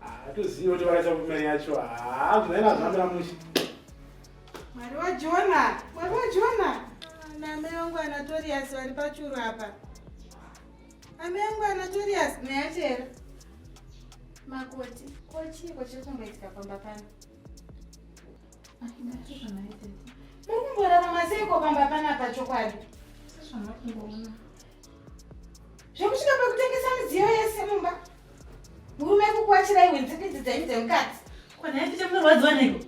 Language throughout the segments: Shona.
hatizivi kuti vakaita kumeri yacho haa zvinaina zvambira mushe mwari wajona mwari wajona namai vangu anatorias vari pachuru apa amai vangu anatorias nayachera makoti kochiiko chiri kumboitika pamba pano Mukumborarama seiko pamba panapa chokwadi? Sezvamakumboona. Zvekusvika pakutengesa midziyo yese mumba. Murume kukuachira iwe nzipidzi dzenyu dzemukadzi. Kwana yacho chamunorwadziwa neiko?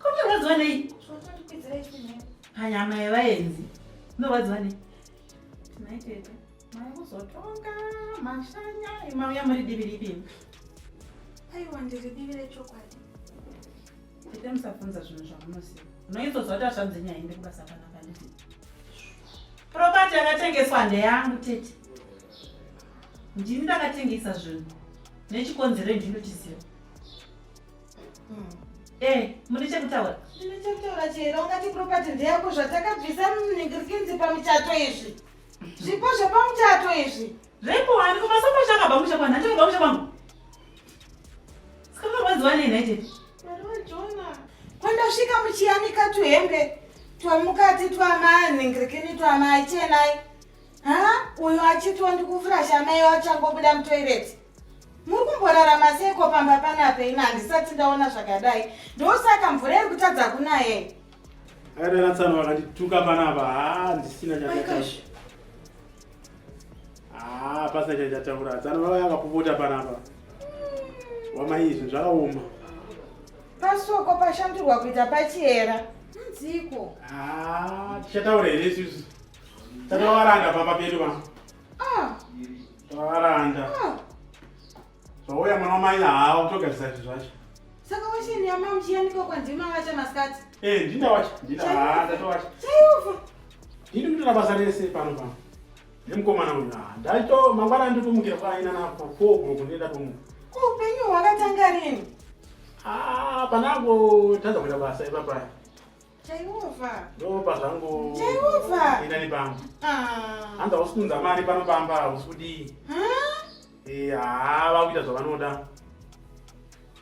Kunorwadziwa nei? Hanyama yevaenzi. Munorwadziwa nei? Tonight Makuzotonga mashanya imauya muri divi ripi? Aiwa ndiri divi rechokwadi. Ite musafunza zvinhu zvamunoziva. Unoizozwa kuti ashanzi nyaya inde kubasa kana panditi. Property yakatengeswa ndeyangu tete. Ndini ndakatengesa zvinhu. Nechikonzero ndinochiziva. Mm. Eh, muri chekutaura? Ndine chekutaura chero ungati property ndeyako zvatakabvisa muningirikinzi pamichato izvi. Zvipo zvepamuchato izvi. Zvipo wani kuma sofa shaka bamu shaka nhacho bamu shaka bamu. Sikama rwadziwa nei nhaite. Marwa Jona. Kwenda svika muchiyanika tuhembe twamukati twamaya nhingirikini twamaya chenai. Ha? Uyo achitwa ndikuvhura shama iyo achangobuda mutoireti. Muri kumborarama seiko pamba panape ina handisati ndaona zvakadai. Ndosaka mvura iri kutadza kunaye. Akananatsana vakandituka panapa haa ndisina chakataura. Haa pasina chakataura. Tsana vaya vakupota panapa. Wamai izvi zvakaoma. Pasoko pashandurwa kuita pachiyera. Nziko. Haa tichataura here isusu. Tatawaranda pamba pedu pa. Ah. Tawaranda. Ah. Zvauya mwana wamai haa utogadzisa zvinhu zvacho. Saka wacha ni ama mchiyani kwa kwa ndima wacha maskati. Eh, ndinda wacha. Ndinda haa ndato wacha. Chayuva. Ndinda kutola basa rese pano pano. Nemkomana uyu haa. Ndaito mangwana ndipumukira kwa aina na kwa kwa kwa kundenda pumuka. Kwa upenyu wakatanga rini? Ah, panago tadza kuita basa ipapaya. Jehova. Ndopa zvangu. Jehova. Ina ni pamba. Ah. Anza usikunza mari pano pamba usudi. Ha? Eh, ah, vakuita zvavanoda.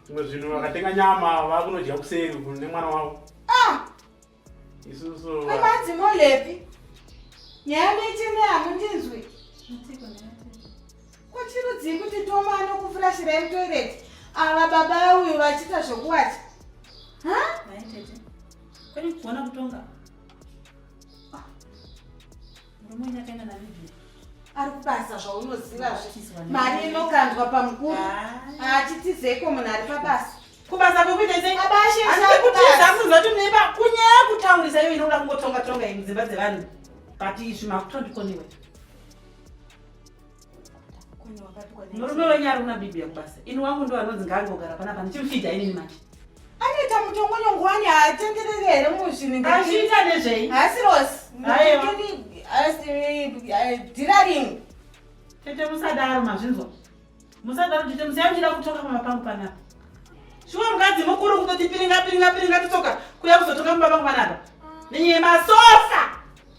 Zvimwe zvinhu vakatenga nyama vakunodya kuseri nemwana wavo. Ah. Isusu. Kamazi molepi. Nyama ichine amundinzwi. Mtiko ne. Kuchirudzii kuti Toma anokufurashira mutoilet ava baba uyu vachiita zvokuwacha? Ha? Mai tete. Kwani kuona kutonga? Ah. Murume uyu akaenda na Vivi. Ari kubasa zvaunoziva zve. Mari inokandwa pamukuru. Ah. Achitizeko munhu ari pabasa. Kubasa kukuita sei? Baba ashe. Asi kutiza kuzoti neba kunyaya kutaurisa iyo inoda kungotonga tonga idzimba dzevanhu. But izvi makutondikondiwe. murume wenyu ari kuna bibi yekubasa ini wangu ndo anonzi ngaangogara panapa ndichimufidha inini manje anoita mutongonyongo wani haatenderere here muzvinhuazviita nezvei haasi rosi diraring tete musadaro mazvinzwa musadaro tete musiyamchida kutoka pama pangu panapa shuwa mukadzi mukuru kutoti piringa piringa piringa titoka kuya kuzotoka mumba pangu panapa nenyemasosa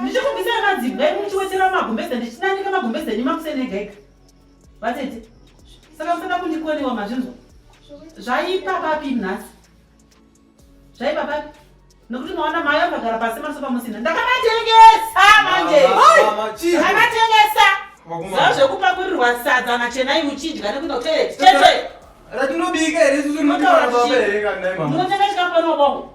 ndichikubvisa nemadzibwa enyu muchiwetera magumbeze ndichinandika magumbeze enyu makuseni ega ega vatete saka musada kundikonewa mazvinzwa zvaipa papi nhasi zvaipa papi nokuti maona mayo akagara pasi masofa musina ndakamatengesa manje akamatengesa zaa zvekupakurirwa sadza machenai muchidya nekuda kuteeteeatinobika here susu munotaura baba here kandaimama munotengachikafanobongo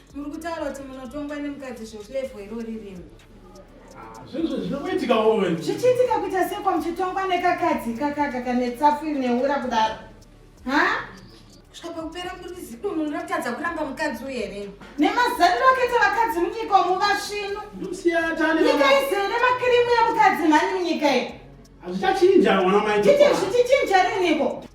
muri kutaura kuti munotongwa nemukadzi zvekulevo irori rimwe ah, zvinhu zvinokuitika wowe zvichiitika kuita seko muchitongwa nekakadzi kakaka kane tsafu iri neura kudaro ha kusvika pakupera kuri zidunhu rinotadza kuramba mukadzi uye here nemazariro akaita vakadzi munyika omuvasvinu nyika izere nemakirimu yemukadzi mhani munyika iyi hazvichachinja mwana mai titi zvichichinja riniko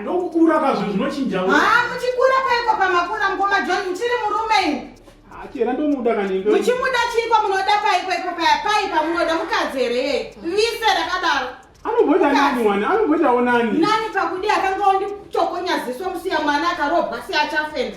Ndokukura kazvo zvinochinja. Ah, muchikura paiko pamakura mukoma John muchiri murume imi. Ah, chera ndomuda kanenge. Muchimuda chiiko munoda paiko ipo paya pai pamunoda mukadzi here yeye. Vise rakadaro. Anoboda nani mwana? Anoboda onani. Nani pakudi akanga ondichokonya ziso musiya mwana akarobwa si achafenda.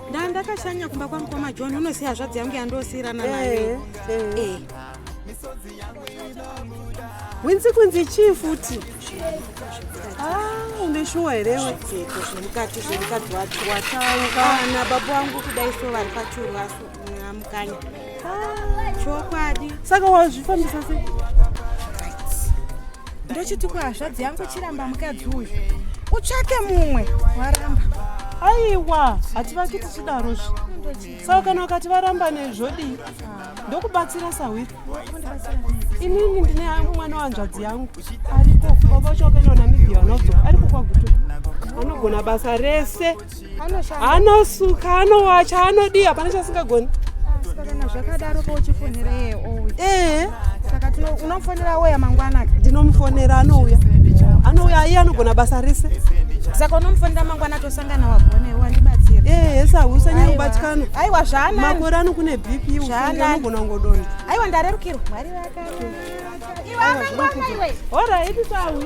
ndaa ndakashanya kumba kwamukoma john unoziva hazvadzi yangu yandosiyirana naye eh, eh. eh. winzi kunzi chii futi ah, une shuwa herewe zvemukati zvemukadzi wacho watanga ah, nababa wangu kudai so vari pachuru aso amukanya chokwadi saka wazvifambisa sei ndochiti kuhazvadzi yangu chiramba mukadzi uyu utsvake mumwe waramba aiwa hativaki tichidaro zvi saka kana ukati varamba nezvodii ndokubatsira sahwiri inini ndine mwana wanzvadzi yangu ariko baba chokaino namibia anodzoka ariko kwaguto anogona basa rese anosuka anowacha anodii hapana chasingagoni kana zvakadaro pauchifonera iye ouya ee saka unomufonera oya mangwana ndinomufonera anouya anouya iye anogona basa rese saka unomufonera mangwana tosangana wagonewo andibatsira ee sa usanyanya kubatikana aiwa zvaana makore ano kune bp usanogona kungodona aiwa ndarerukirwa mwari vakaiwe amangwana iwe horaiti sawi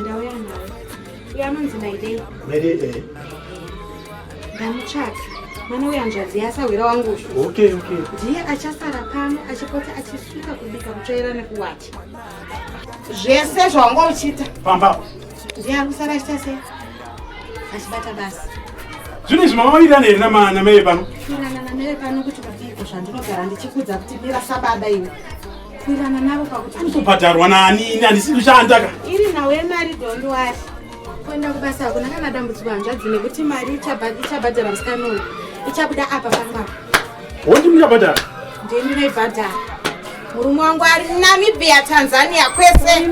Ndauya nayo. Iye anonzi Maidei. Maidei eh. Ndamutsvaka. Mwana uya nzvadzi yasahwira wangu uyu. Okay, okay. Ndiye achasara pano achipota achisuka kubika kutsvaira nekuwacha. Zvese zvawanga uchiita. Pamba. Ndiye akusara achita sei? Achibata basa. Zvino izvi mamawirirana here namai pano? Kuwirirana namai pano kuti vabiko zvandinogara ndichikudza kuti mira sababa iwe. Kurirana navo pakuti anobhadharwa nani ini handisi kushanda ka. Iri nhau yemari don't worry. Kuenda kubasa hakuna kana dambudziko hanzvadzi nekuti mari ichabhadhara musikana uyu ichabuda apa pangapa. Wondi muchabhadhara? Ndini ndinoibhadhara. Murume wangu ari Namibia, Tanzania kwese.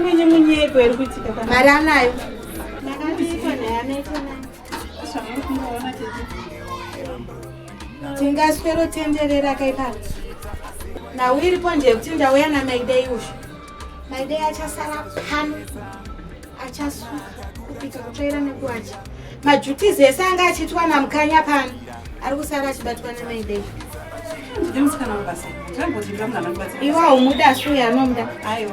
Mari anayo. Ndakati iko naye anoita nani? tingaswero tenderera kaipano nhau iripo ndeyekuti ndauya namaidei uzvo maidei achasara pano achasuka kupika kutsvaira nekuwacha majutizi ese anga achiitwa namukanya pano ari kusara achibatwa namaidei iwa umuda suya anomuda aiwa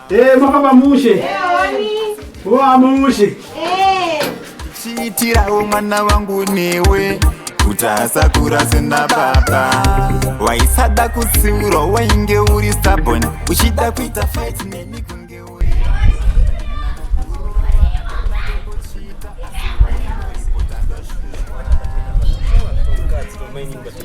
Eh, makaba mushe. Eh, wani. Wa mushe. Eh. Chiitirawo mwana wangu newe. Kutasa kurase na baba. Waisada kutsiura wainge uri stubborn. Uchida kuita fight neni kunge uri. Thank you.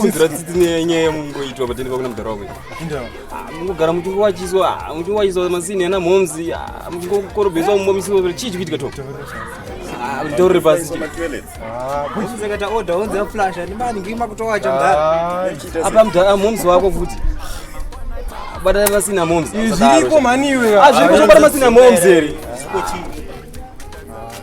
kunzira tsitsi nenyaya yamungoitwa patende pakuna mudhara wako mungogara muchingowachiswa muchingowachiswa masini ana mhomzi muchingokorobheswa mumbomisiwa chii chikuitika to ndore pasi kuchizekata order onzi aflash andimani ngima kutowacha mudhara apa mudhara mhomzi wako futi batana masina momzi zviriko mhani iwe azviriko zvobata masina momzi here